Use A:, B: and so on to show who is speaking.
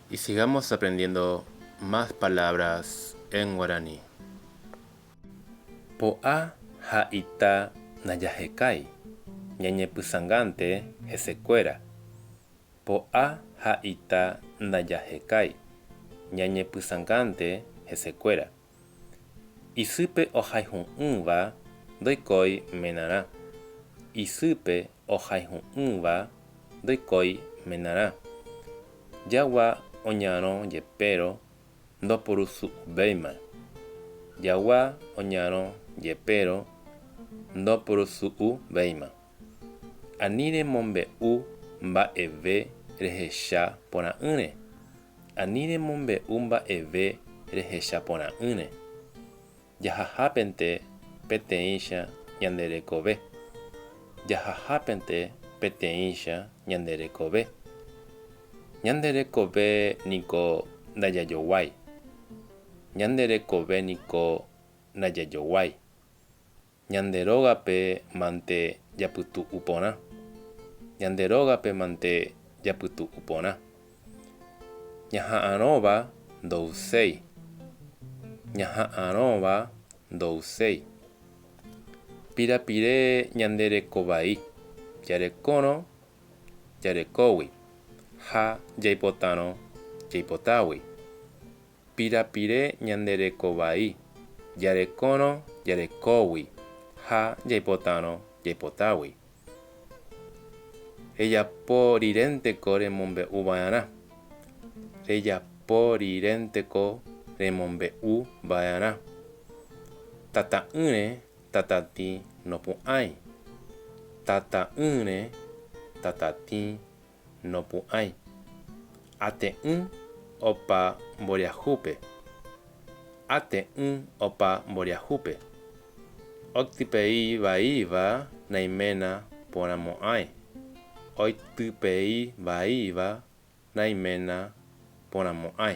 A: Y sigamos aprendiendo más palabras en guaraní. Po'a ha ita najahekái, ñañepysãngánte hesekuéra. Po'a ha ita najahekái, ñañepysãngánte hesekuéra. Isýpe ohayhu'ỹva ndoikói menarã. Isýpe ohayhu'ỹva ndoikói menarã. Jagua oñarõ jepérõ ndopurusu'uvéima. Jagua oñarõ jepérõ ndopurusu'uvéima. Ani remombe'u mba'eve rehecha porã'ỹre. Ani remombe'u mba'eve rehecha porã'ỹre. Jahahápente peteĩcha ñande rekove. Jahahápente peteĩcha ñande rekove. Ñande rekove niko ndajajoguái. Ñande rekove niko ndajajoguái. Ñande rógape mante japytu'u porã. Ñande rógape mante japytu'u porã. Ñaha'arõva ndo'uséi. Ñaha'arõva ndo'uséi. Pirapire ñande reko vai. Jarekórõ jarekógui ha jaipotárõ jaipotágui. pirapire ñande reko vai, jarekórõ jarekógui ha jaipotárõ jaipotágui. Rejapo rirénteko remombe'u va'erã. Rejapo rirénteko remombe'u va'erã. Tata'ỹre tatatĩ nopu'ãi. Tata'ỹre tatatĩ nopu'ãi, ate'ỹ opa mboriahúpe, ate'ỹ opa mboriahúpe, octypei vaíva naiména porãmo'ãi, oitypei vaíva naiména porãmo'ãi.